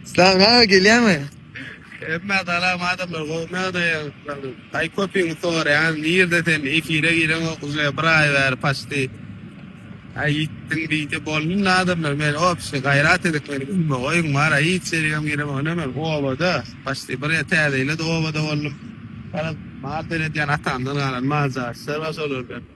Salam aga gelýärmi? Emma salam adamlar gowy nädeýär? Aý köpüň soraýan nirde sen efire gireňok uze bir aý bäri paçti. Aý ýitdiň diýdi boldum adamlar men opşi gaýrat edip meni ünme goýuň mara hiç ýerigem giremok ine men obada paçti bir ýer täze ýyla-da obada boldum. Garaz mal seredýän atamdan galan mal jaýyşlar bar şolar bilen.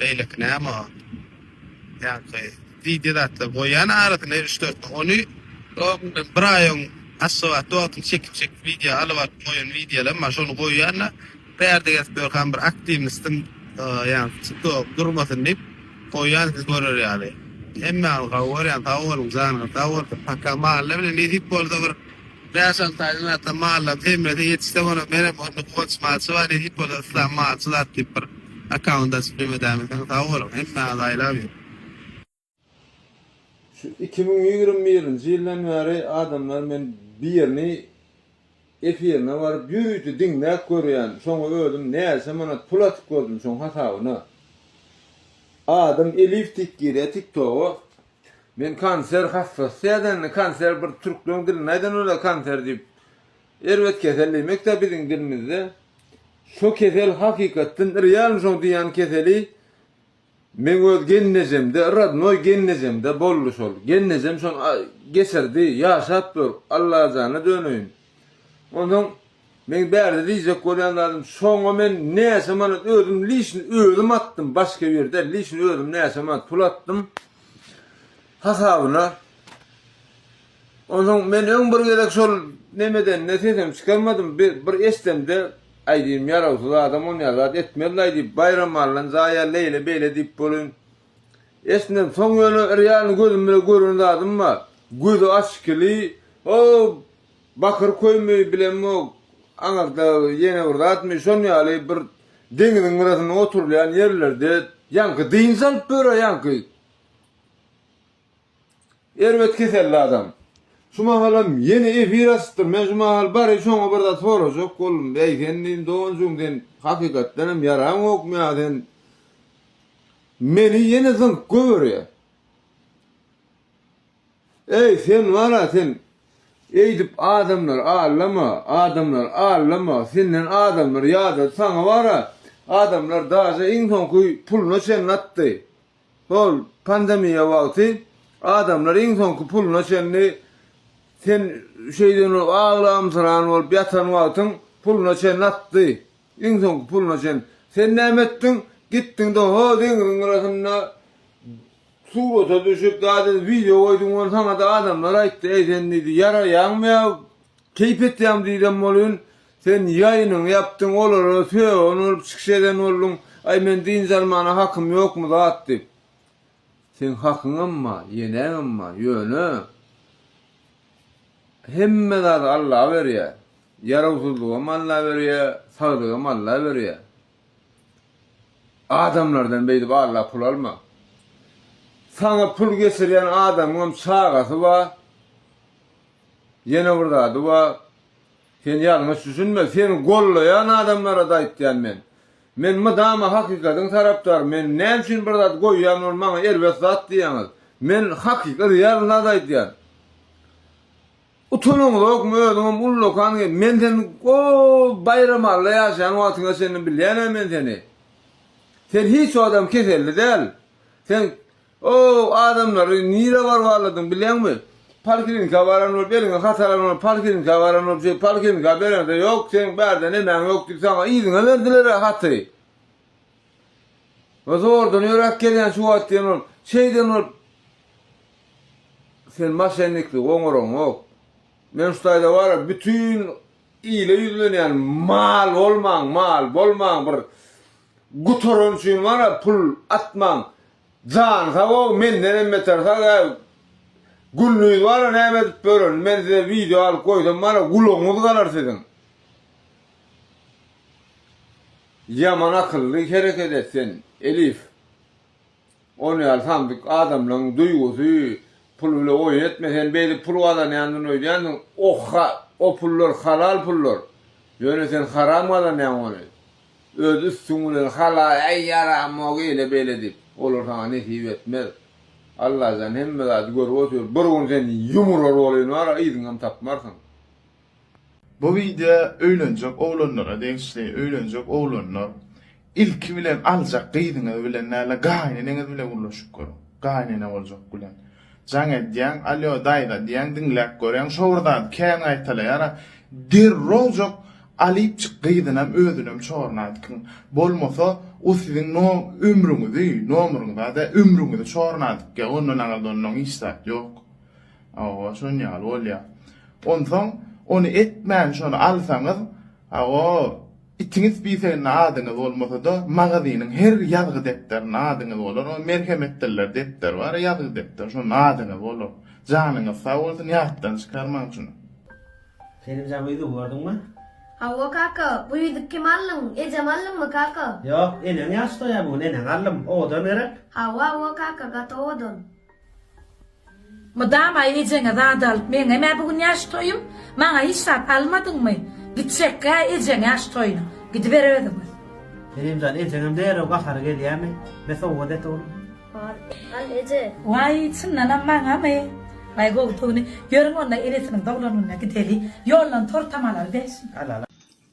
Beýleki näme o? Ýaňky wideo zatlar goýýan arasyna üç dört gün. Ony öňden bir aý öň Aşgabatda wagtyny çekip çekip wideo alyp alyp goýan wideolarym bar. Şony goýýan-da bärde gezip ýörkäm bir aktiwnistiň ýaňky tiktogy durmasyn diýip goýýan siz görer ýaly. Hemmäňiz gowy görýän sag boluň janyňyz sag bolsun. Paka malla bilen nesip bolsa bir Bäş-alty aý öň ata mallaryň hemmesi ýetişse bolany, menem onda guwanç malçy bar diýip hipoda yslam malçy zat diýip bir akkaunt açyp jemedämikäň sag boluň hemmäňizi aýlap ýör. Şu iki müň ýigrimi birinji ýyldan bäri adamlar men birini efirine baryp ýüz ýiti diňläp görýän şoňa özüm näçe manat pul atyp gördüm şoň hasabyna adym elif tik girýä tik toga Men kanser hassasy sädende kanser bir türkleň dilinde aýdan ola kanser diýip erbet kesel diýmekdä biziň dilimizde şo kesel hakykatdan realny şoň diýýän keseli meň öz gelnejemde rodnoý gelnejemde boldy şol gelnejem şony geçirdi ýaşap dur Allajana döneýin Onsoň meň bärde diýjek bolýan zadym şoňa men näçe manat özüm lişni özüm atdym başga bir däl lişni özüm näçe manat pul atdym hasabyna onsoň men öň bir gezek şol nemedende sesem çykarmadym bir eşdemde aýdym ýarawsyz adam onýa zat etmez laý diýip baýramallyn zaýa leýle beýle diýip bolyn Esnem, soň ýöne Real-ny gözüm bilen gören zadym bar. Gözi açykili, o bakyr köými bilemok, aňyrda ýene bir zadmy, şon ýaly bir deňiziň gyrasynda oturylýan ýerlerde ýaňky dynç alyp ýör-ä ýaňky. Erbet keselli adam. Şu mahalam ýene efir açypdyr. Men şu mahal bary şoňa bir zat sorajak boldum. Äý sen diýdim, doganjygym sen hakykatdan hem ýaraňokmy ýa sen meni ýene zyňyp göberýä. Äý sen wara sen eýdip adamlary allama, adamlary allama, senden adamlar ýadady saňa wara adamlar daže iň soňky puluna çenli atdy. Hol, pandemiýa wagty adamlar iň soňky puluna çenli, sen şeýden bolup aglamsyran bolup ýatan wagtyň puluna çenli atdy. Iň soňky puluna çenli. Sen näme etdiň? Gitdiň-de ho deňziň gyrasynda surata düşüp, zat edip, wideo goýduň, ony saňa-da adamlar aýtdy, Äý sen diýdi, ýaraýaňmy ýa Keýp etýäm diýsem bolýn sen ýaýynyňy ýapdyň olara sögün bolup çykyş eden bolduň aý men dynç almana hakym ýokmy zat diýip. Seň hakyňam bar ýenäňem bar ýöne hemme zady Alla berýä ýarawsyzlygam Alla berýä sagdygam Alla berýä adamlardan beýdip Alla pul alma saňa pul geçirýän adamyňam çagasy bar Ýene bir zady bar. Sen ýalňyş düşünme. Seni gollaýan adamlara-da aýtýan men. Men mydama hakykatyň tarapdary. Men näme üçin bir zat goýýan ol maňa erbet zat diýýäňiz. Men hakyky real zat aýdýan. Utanyňyzokmy özüňem ullakan gelip. Men sen o Baýramalla ýaşaýan wagtyňa çenli bilýän-ä men seni. Sen hiç wagtam keselli däl. Sen Ow, adamlary nirä barbarladyň, bilýäňmi? Poliklinika baran bolup, eliňe hat alan bolup, poliklinika baran bolup, şeýdip, poliklinika bereňde, ýok, seniň bärde nemäň ýok diýip, saňa yzyňa berdiler-ä haty. We zordan ýöräp gelýän şu wagt diýen bolup, şeýden bolup, sen maşenniklik oňaraňok. Men şu taýda bar-a, bütin ile ýüzlenýän, mal bolmaň, mal bolmaň, bir gutaran üçin bar-a, pul atmaň, Jan sagow mendenem beter sag ya Gullyz bara näme edip bölerin men size video alyp goýsam bara gulagyňyz galar siziň. Ýaman akylly hereket et sen Elif. Ony ýaly samsyk adamlaň duýgusy pul bile oýun etme sen beýdip pul gazanýandyn öýdýändiň o ha o pullar halal pullar ýöne sen haram gazanýaň ony. Öz üstüň bilen hala äý ýaramok eýle beýle diýip olar saňa nesip etmez. Allajan hemme zady görüp otyr bir gün sen ýumurar bolyn wara yzyňam tapmarsyň. Bu wideo öýlenjek oglanlara degişli, öýlenjek oglanlar ilki bilen aljak gyzyňyz bilen däl-de gaýneneňiz bilen gürleşip görüň, gaýnene boljak bilen. Jaň edýäň, alýo daýza diýýäň diňläp görýäň şo bir zady kän gaýtalaýara derrowjak alyp çyk gyzynam özünem çornadykyň bolmasa o siziň no ömrüňizi nomryňyzy ada ömrüňizi çornadykyň ondan aňyrda onnoň hiç zat ýok owa şon ýaly bolýa onsoň ony etmän şony alsaňyz Hawa, itiň spiseginde adyňyz bolmasa-da, magazynyň her ýazgy depderinde adyňyz bolar. O Merhemetdiller depderi bar, ýazgy depderi, şonda adyňyz bolar. Janyňyz sag bolsun, ýatdan çykarmaň şuny. Selim jan bu ýüzügi gördüňmi? Hawa kaka, bu ýüzük kim aldyň, ejem aldyňmy kaka? Ýok, eneň ýaş toýa bu gün eneň aldym, owadan gerek? Hawa, hawa kaka, gaty owadan. Mydama ejeňe zat alyp meňem-ä bu gün ýaş toýum, maňa hiç zat almadyňmy? Gitjek-gä ejeň ýaş toýuna, gidiber özüňiz. Meryem jan, ejeňem derrew gahary gelýämi? Me sowgat et ogly. Bar, al eje. Waý, çyndanam maňamy? Waý, gowy pugny. Ýörüň onda enesiniň doglan gününe gideli. Ýoldan tor-tamalary bersin. Al, al.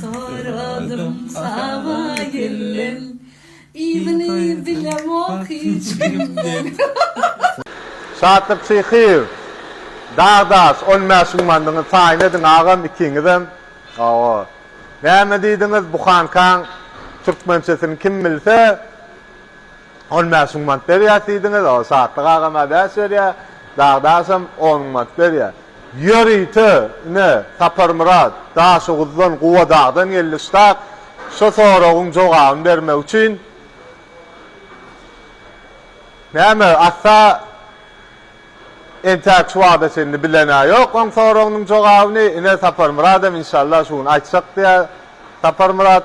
Soradym saba gelen. Yzyny bilemok hiç kimden. Şatlyk Şyhyýew, Dagdaş, on bäşiň mandyňy taýyn ediň agam ikiňizem. Hawa. Näme diýdiňiz, buhankaň türkmençesini kim bilse, On bäş müň manat berýäs diýdiňiz, o Sadyk agam-a bäş berýär, Dagdaşam on müň manat berýär. Ýörite, ine, Saparmyrat, Daşoguzdan, Gubadagdan geldi ştab, şu soragyň jogabyny bermek üçin. Näme, Assa entäk şu wagta çenli bilen-ä ýok oň soragynyň jogabyny, ine, Saparmyradam, inşallah, şu gün aýtjak diýýär Saparmyrat.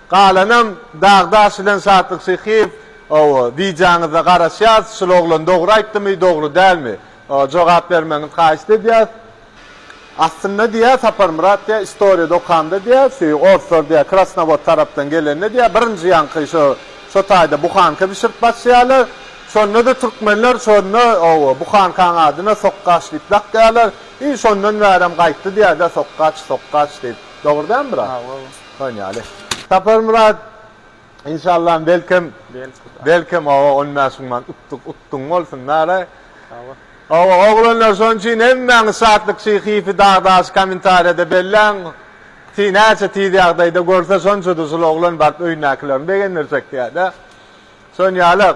Galanam Dagdaş bilen Şatlyk Şyhyýew ow wideoňyzda garaşýas şul oglan dogry aýtdymy dogry dälmi jogap bermegiňiz haýyşt edýäs aslynda diýýä Saparmyrat diýýä istoriýada okamda diýýä şu orslar diýýä krasnowod tarapdan gelende diýýä birinji ýaňky şo şo taýda buhanka bişirip başlaýalar şondada türkmenler şonda ow buhankaň adyna sokgaç diýip dakýalar i şondan bärem gaýtdy diýýädä sokgaç sokgaç diýip dogry dälmi brat Şon ýaly. Saparmyrat, inşallah belkem, belkem oba on bäş müň manat utdyk, utduň bolsun nara. Sagbol. Oba oglanlar şoň üçin hemmäňiz Şatlyk Şyhyýewi dag-daş kommentariýada belläň. Ti näçe tiz ýagdaýda görse şonça dusl oglan baryp öýündäkilerini begendirjek diýädä. Şon ýaly.